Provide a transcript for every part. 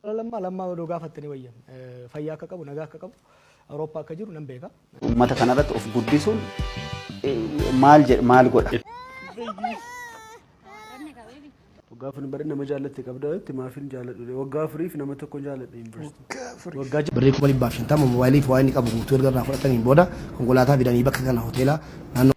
Bara Lammaa Lammaa odoo gaafattanii wayya. Fayyaa akka qabu, nagaa akka qabu, Awurooppaa akka jiru nan beeka. Uummata kana irratti of guddisuun maal jedha maal godha? Waggaa afur bara nama jaallatte qabdaa jetti maafin jaalladhu waggaa afuriif nama tokko jaalladhe yuunivarsiitii. Waggaa Birrii kuma dhibbaaf shantama moobaayilii fi waa inni qabu guutuu erga irraa fudhataniin booda konkolaataa fidanii bakka kana hoteela naannoo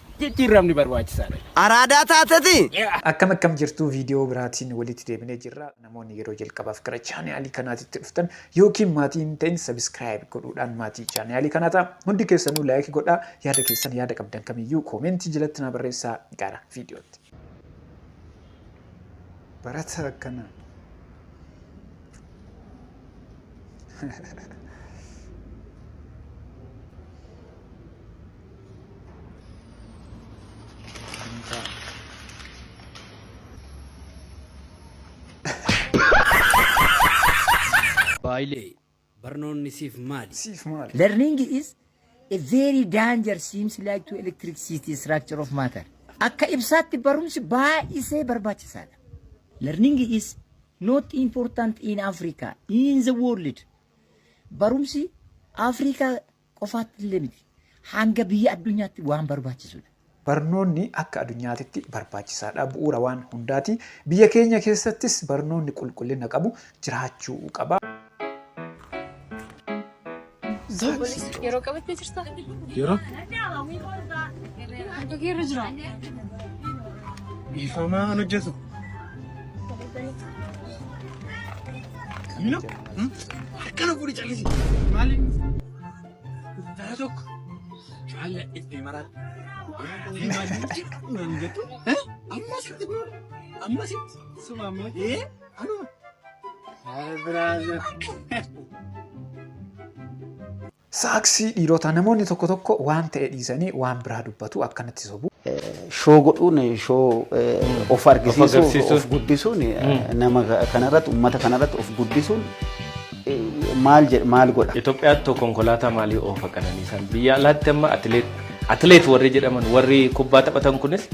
jijjiirramni barbaachisaadha. Araadaa taatetii? Akkam akkam jirtuu video biraatiin walitti deebinee jirra namoonni yeroo jalqabaaf gara chaanaalii kanaatitti dhuftan yookiin maatii hin ta'in subscribe godhuudhaan maatii chaanaalii kanaa ta'a hundi keessanuu like godhaa yaada keessan yaada qabdan kamiyyuu koomentii jalatti naa barreessaa gara viidiyootti barata akkana Baayilee, barnoonni siif maali? Siif maali? Learning is a very danger seems like to electricity structure of matter. Akka ibsaatti barumsi baay'isee barbaachisaadha. Learning is not important in Africa, in the world. Barumsi Afrikaa qofaatti illee miti. Hanga biyya addunyaatti waan barbaachisudha. Barnoonni akka adunyaatitti barbaachisaadha. Bu'uura waan hundaati. Biyya keenya keessattis barnoonni qulqullina qabu jiraachuu qaba. Yeroo qabattee jirta? Yeroo? Harka kee irra jira. Dhiifamaa an hojjetu. Milo, harkana fuudhi callisi. Maali? Dara tokko jaalla itti maraadha. Naan jettu. Ammas itti fuudha. Ammas itti. Suma ammoo. Ee? Anuma. Biraaza. Saaksii dhiirotaa namoonni tokko tokko waan ta'e dhiisanii waan biraa dubbatu akkanatti sobu. Shoo godhuun shoo of argisiisuuf of guddisuun nama kanarratti uummata kanarratti of guddisuun maal jedha maal godha. Itoophiyaatti tokko konkolaataa maalii oofa qananiisaan biyya alaatti amma atileet atileet warri jedhaman warri kubbaa taphatan kunis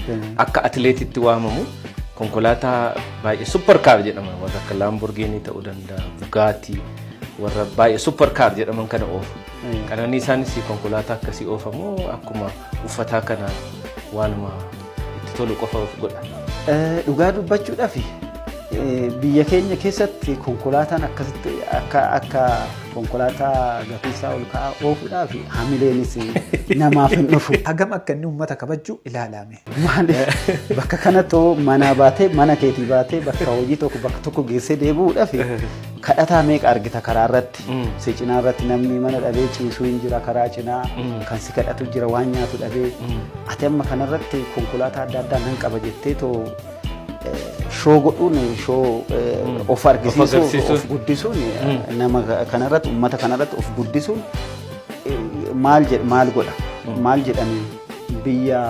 akka atileetitti waamamu konkolaataa baay'ee supper kaar jedhama warra akka laamborgiinii ta'uu danda'a bugaatii. warra baay'ee super car jedhaman kana oofu. Qananii isaanis konkolaataa akkasii oofamu akkuma uffataa kana waanuma itti tolu qofa of godha. Dhugaa dubbachuudhaaf biyya keenya keessatti konkolaataan akkasitti akka akka konkolaataa gafiisaa ol ka'aa oofuudhaaf hamileenis namaaf hin dhufu. Hagam akka inni uummata kabajju ilaalaame. Maaliif bakka kanattuu manaa baatee mana keetii baatee bakka hojii tokko bakka tokko geessee deebi'uudhaaf kadhataa meeqa argita karaa irratti. Si cinaa irratti namni mana dhabee ciisuu hin jira karaa cinaa kan si kadhatu jira waan nyaatu dhabee. Ati amma kanarratti konkolaataa adda addaa nan qaba jettee too shoo godhuun shoo of argisiisuun of guddisuun nama kanarratti uummata kanarratti of guddisuun maal godha maal jedhanii. Biyya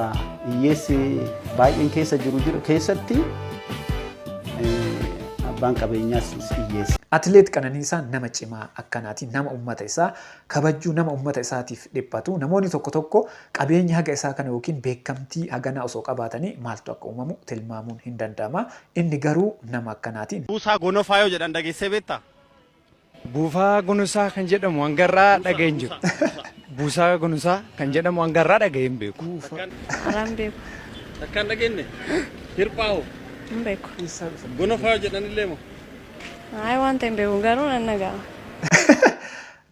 hiyyeessi baay'een keessa jiru jiru keessatti eh, abbaan qabeenyaas hiyyeessa. Atileet Qananiisaan nama cimaa akkanaati. Nama ummata isaa kabajuu, nama ummata isaatiif dhiphatu. Namoonni tokko tokko qabeenya haga isaa kana yookiin beekamtii haganaa osoo qabaatanii maaltu akka uumamu tilmaamuun hin danda'ama. Inni garuu nama akkanaati. Buusaa Gonofaa yoo jedhan dhageessee beektaa? Buufaa Gunusaa kan jedhamu hanga har'aa dhaga'ee hin jiru. Buusaa Gunusaa kan jedhamu hanga har'aa dhaga'ee hin beeku. Araan beeku. Takka hin dhageenye? Hirphaa hoo? Hin beeku. Gonofaa jedhanillee moo? Ayi wanta hin beeku garuu nan dhaga'a.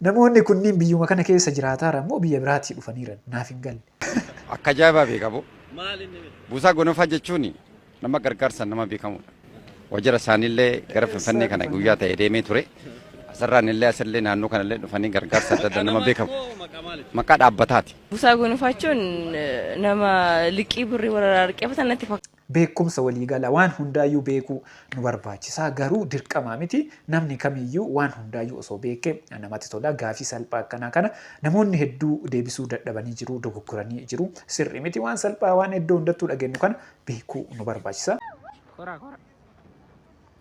Namoonni kunniin biyyuma kana keessa jiraataaran moo biyya biraatii dhufaniiran? Naaf hin galle. Akka ajaa'ibaa beeka boo. Buusaa Gonofaa jechuun nama gargaarsaan nama beekamudha. Wajjira isaaniillee gara Finfinnee kana guyyaa ta'e deemee ture. Asirraan illee asillee naannoo kanallee dhufanii gargaarsa adda addaa nama beekamu. Maqaa dhaabbataati. Buusaa Gonofaa jechuun nama liqii birrii warra irraa liqeeffatan natti fakkaata. Beekumsa waliigalaa, waan hundaayyuu beekuu, nu barbaachisaa garuu dirqamaa miti. Namni kamiyyuu waan hundaayyuu osoo beeke namatti tola. Gaafii salphaa akkanaa kana namoonni hedduu deebisuu dadhabanii jiru, dogoggoranii jiru. Sirrii miti waan salphaa waan eddoo hundattuu dhagennu kana beekuu nu barbaachisa. Kora kora.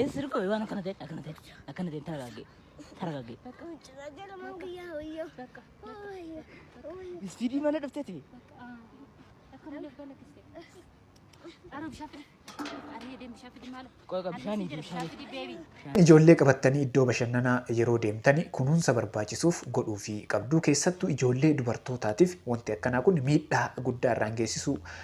Eessa dhukkoo waan akkana ta'e akkana ta'e akkana ta'e taragaagee taragaagee. Ispiidii mana dhuftee ta'e. Qoqa bishaanii fi bishaanii. Ijoollee qabattanii iddoo bashannanaa yeroo deemtani kunuunsa barbaachisuuf godhuu fi qabduu keessattuu ijoollee dubartootaatiif wanti akkanaa kun miidhaa guddaa irraan geessisuu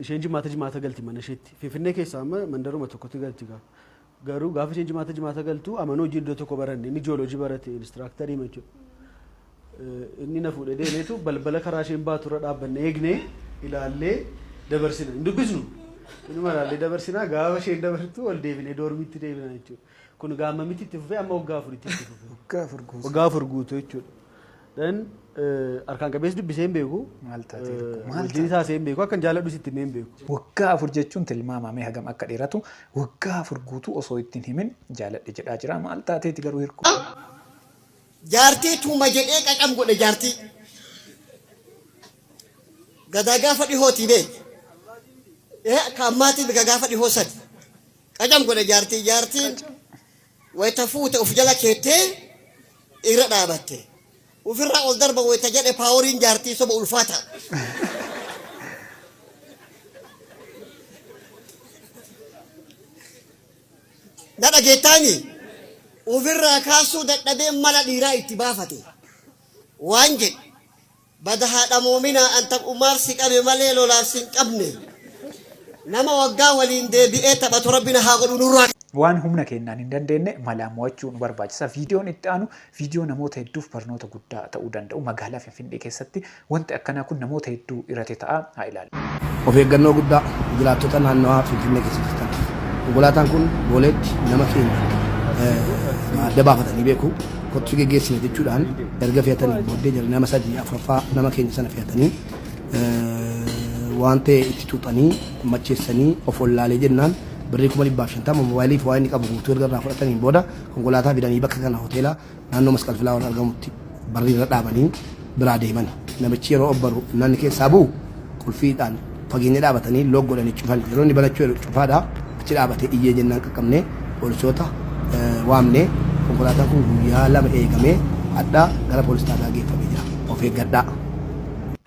Isheen jimaata jimaata galti mana isheetti. Finfinnee keessaa amma mandaruma tokkotti galti gaa. Garuu gaafa isheen jimaata jimaata galtu amanuu hojii iddoo tokko baranne inni jiyoolojii barate inistiraaktarii jechuudha. Inni na fuudhee deemeetu balbala karaa isheen baatu irra dhaabbanne eegnee ilaallee dabarsina. Hin dubbisnu. Inuma ilaallee dabarsinaa gaafa isheen dabartu ol deebinee doormiitti deebina jechuudha. Kun egaa ammamitti itti fufee amma waggaa afuritti itti fufee. Waggaa afur guutuu. Waggaa afur guutuu jechuudha. Then eh, harkaan qabeessi dubbisee hin beeku. Maal taatee Eh, tokko? Maal Wajjin taasee hin beeku. Akkan jaaladhus itti himee hin beeku. Waggaa afur jechuun tilmaamamee hagam akka dheeratu waggaa afur guutuu osoo ittiin himin jaaladhe jedhaa jira. Maal taateeti garuu hirku? Jaartii tuuma jedhee qaqam godhe jaartii. Gadaa gaafa dhihootii bee. Ee ka ammaatii gaafa dhihoo sadi. Qacam godhe jaartii jaartiin wayita fuute of jala keettee irra dhaabatte. Ofirraa ol darba wayita jedhe paaworiin jaartii soba ulfaata. Na dhageettaani ofirraa kaasuu dadhabee mala dhiiraa itti baafate. Waan jedhe Bada haa dhamoominaa an taphummaaf si qabe malee lolaaf sin qabne. Nama waggaa waliin deebi'ee taphatu rabbi na haa godhu nurraa. Waan humna keennaan hin dandeenne malaan mo'achuu nu barbaachisa. Viidiyoon itti aanu viidiyoo namoota hedduuf barnoota guddaa ta'uu danda'u. Magaalaa Finfinnee keessatti wanti akkanaa kun namoota hedduu irati ta'a. Haa ilaallu. Of eeggannoo guddaa jiraattota naannawaa Finfinnee keessa jirtaniif. Konkolaataan kun Booleetti nama feene adda baafatanii beeku. Kottu si geggeessina jechuudhaan erga fe'atanii booddee jara nama sadii afuraffaa nama keenya sana fe'atanii waan ta'e itti xuuxanii macheessanii of wallaalee jennaan birrii kuma dhibbaaf shantama moobaayilii fi waa inni qabu guutuu erga irraa fudhataniin booda konkolaataa fidanii bakka kana hoteela Naannoo Masqal Filaawar argamutti barrii irra dhaabanii biraa deeman. Namichi yeroo obbaru namni keessaa bu'u qulfiidhaan fageenya dhaabatanii look godhanii cufan. Yeroo inni banachuu jedhu cufaadha. Achi dhaabatee iyyee jennaan qaqqabnee poolisoota waamnee konkolaataan kun guyyaa lama eegamee hadha gara poolis xaabiyaa geeffamee jira. Of eeggadhaa.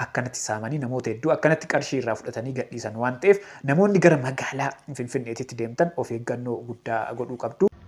akkanatti saamanii namoota hedduu akkanatti qarshii irraa fudhatanii gadhiisan waan ta'eef namoonni gara magaalaa Finfinneetitti deemtan of eeggannoo guddaa godhuu qabdu.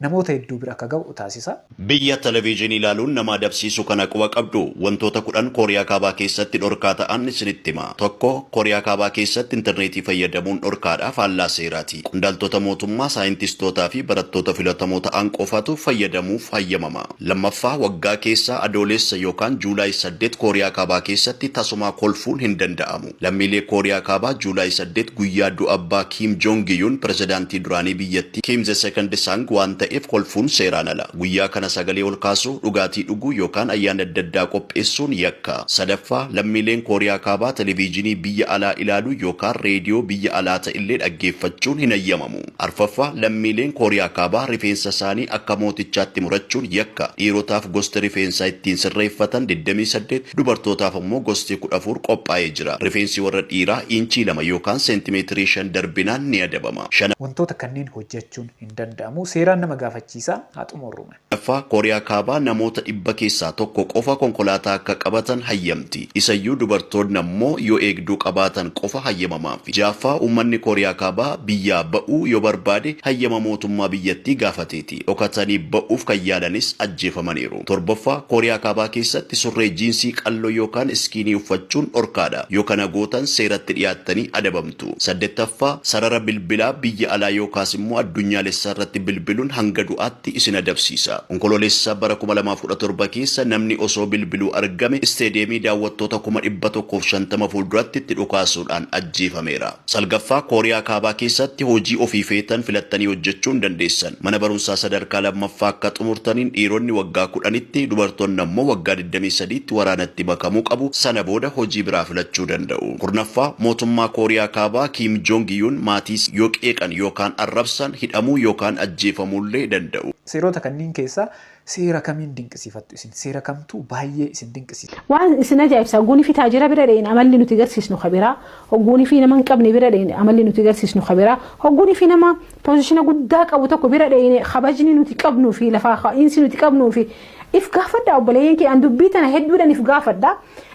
namoota hedduu bira akka ga'u taasisa. Biyya television ilaaluun nama adabsiisu kana quba qabduu? Wantoota 10 Kooriyaa Kaabaa keessatti dhorkaa ta'an isinitti hima. 1, Kooriyaa Kaabaa keessatti interneetii fayyadamuun dhorkaadha, faallaa seeraati. Qondaaltota mootummaa, saayintistootaa fi barattoota filatamoo ta'an qofatu fayyadamuuf hayyamama. 2ffaa, Waggaa keessa Adooleessa yookaan July 8 Kooriyaa Kaabaa keessatti tasumaa kolfuun hin danda'amu. Lammiilee Kooriyaa Kaabaa July saddeet guyyaa du'a abbaa Kim Jong-un, pirezidaantii duraanii biyyattii, Kim the Second Sang waan ta'eef kolfuun seeraan ala. Guyyaa kana sagalee ol kaasuu, dhugaatii dhuguu yookaan ayyaanni adda addaa qopheessuun yakka. Sadaffaa, lammiileen Kooriyaa Kaabaa televiijinii biyya alaa ilaaluu yookaan reediyoo biyya alaa ta'ellee dhaggeeffachuun hin hayyamamu. Arfaffaa, lammiileen Kooriyaa Kaabaa rifeensa isaanii akka mootichaatti murachuun yakka. Dhiirotaaf gosti rifeensaa ittiin sirreeffatan digdamii saddeet, dubartootaaf ammoo gosti kudha afur qophaa'ee jira. Rifeensi warra dhiiraa iinchii lama yookaan seentimeetirii shan darbinaan ni adabama. Wantoota kanneen hojjechuun hin danda'amu. Seeraan nama gaafachiisa. Haa xumurru me. ffaa Kooriyaa Kaabaa namoota dhibba keessaa tokko qofa konkolaataa akka qabatan hayyamti. Isayyuu dubartoonni ammoo yoo eegduu qabaatan qofa hayyamamaafi. Ja'affaa uummanni Kooriyaa Kaabaa biyyaa ba'uu yoo barbaade hayyama mootummaa biyyattii gaafateeti. Dhokatanii ba'uuf kan yaalanis ajjeefamaniiru. Torbaffaa Kooriyaa Kaabaa keessatti surree jiinsii qalloo yookaan iskiinii uffachuun dhorkaadha. Yoo kana gootan seeratti dhiyaattanii adabamtu. jirtu. Saddettaffaa, sarara bilbilaa biyya alaa yookaas immoo addunyaalessaa irratti bilbiluun hanga du'aatti isin adabsiisa. Onkoloolessa bara kuma lamaa fi kudha torba keessa namni osoo bilbiluu argame isteediyeemii daawwattoota kuma dhibba tokkoo fi shantama fuulduratti itti dhukaasuudhaan ajjeefameera. Salgaffaa, Kooriyaa Kaabaa keessatti hojii ofii feetan filattanii hojjechuu hin dandeessan. Mana barumsaa sadarkaa lammaffaa akka xumurtaniin dhiironni waggaa kudhanitti, dubartoonni ammoo waggaa digdamii sadiitti waraanatti makamuu qabu, sana booda hojii biraa filachuu danda'u. Kurnaffaa, Mootummaa Kooriyaa Kaabaa Kiim Joong Yuun maatiis yoo qeeqan yookaan arrabsan hidhamuu yookaan ajjeefamuullee danda'u. Seerota kanniin keessaa seera kamiin dinqisiifattu isin? Seera kamtu baay'ee isin dinqisiisa? Waan isin ajaa'ibsa hogguunifi taajira bira dheyne amalli nuti garsiisnu ka biraa, hogguunifi nama hin qabne bira dheyne amalli nuti garsiisnu ka biraa, hogguunifi nama pozishina guddaa qabu tokko bira dheyne kabajni nuti qabnuufi lafaa ka'iinsi nuti qabnuufi If gaafadhaa obboleeyyan kiyya an dubbii tana hedduudhan if gaafadha.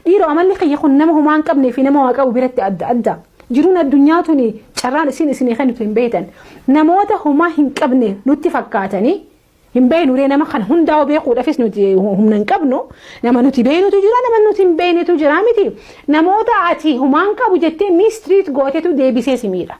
Dhiiroo amalli kiyya kun nama homaa hin qabnee fi nama waa qabu biratti adda adda. Jiruun addunyaa tuni carraan isiin isinii kennitu hin beektan. Namoota homaa hin qabne nutti fakkaatanii hin beeknu ree nama kana hundaa hoo beekuudhaafis nuti humna hin qabnu. Nama nuti beeknutu jira nama nuti hin beeknetu jira miti. Namoota ati homaa hin qabu jettee mistreat gootetu deebisee si miidha.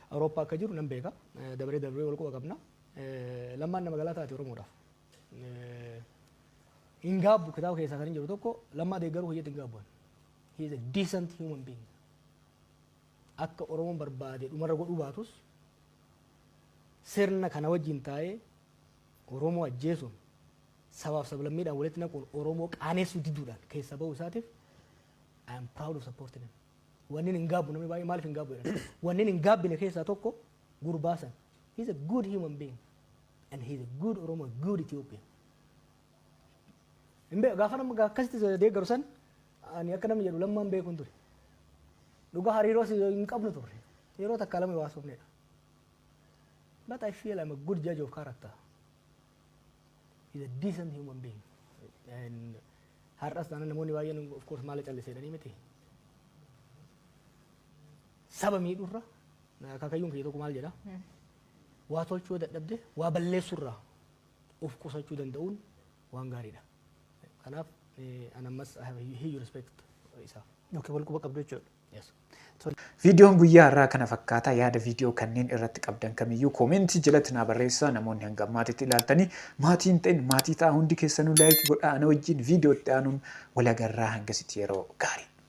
Awurooppaa akka jiru nan beeka. Dabaree darbee wal quba qabna. Lammaan nama galaa taate Oromoodhaaf. Hin gaabbu kitaaba keessaa kan hin jiru tokko lammaa deeggaruu hojiitti hin gaabbu. He is a decent human being. Akka Oromoon barbaade dhumarra godhuu baatus sirna kana wajjin taa'ee Oromoo ajjeesuun sabaaf sablammiidhaan walitti naquun Oromoo qaaneessuu diduudhaan keessa ba'uu isaatiif I am proud of supporting him. Wannin hin gaabbu namni baay'ee maaliif hin gaabbu jedhan. Wannin hin gaabbine keessaa tokko gurbaa san. He's a good human being and he's a good Oromo, a good Ethiopian. Hin beeku gaafa nama akkasitti deeggaru san ani akka namni jedhu lammaan beekuun ture. Dhugaa hariiroos hin qabnu turre. Yeroo takka lama waasofnedha. But I feel I'm a good judge of character. is a decent human being. And har'as taana namoonni baay'een of course maala calliseedhanii miti. Saba miidhurra akaakayyuun kiyya tokko maal jedha? Waa tolchuu yoo dadhabde waa balleessurraa of qusachuu danda'uun waan gaariidha. Kanaaf eh, an ammas I have a huge respect isaaf. Yookiin wal quba qabdu jechuudha. Viidiyoon guyyaa har'aa kana fakkaata. Yaada viidiyoo kanneen irratti qabdan kamiyyuu koomentii jalatti naa barreessaa. Namoonni hanga ammaatitti ilaaltanii maatii hin ta'in maatii ta'aa hundi keessanuu like godhaa ana wajjin viidiyoo itti aanuun wal agarraa hangasitti yeroo gaarii.